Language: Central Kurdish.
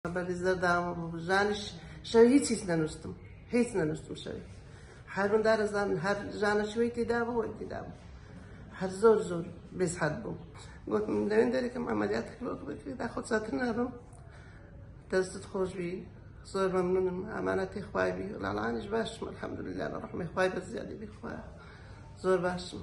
بەری زەرداوە ژانیش شەوی هیچ هیچ نەنووستم هیچ نەنووستم شەوی هەر من دارەزان هەر ژانە شوێی تێدا بوو وەی تێدا بوو هەر زۆر زۆر بێزحەت بوو گوتم لەوێن دەرێکم ئەمەلیات کردۆک بکرێدا خۆ چاتر نابم دەستت خۆش بی زۆر مەمنونم ئەمانە تێ خوای بی لاڵانیش باشم الحمدلله لە ڕحمە خوای بە زیادی بخوا زۆر باشم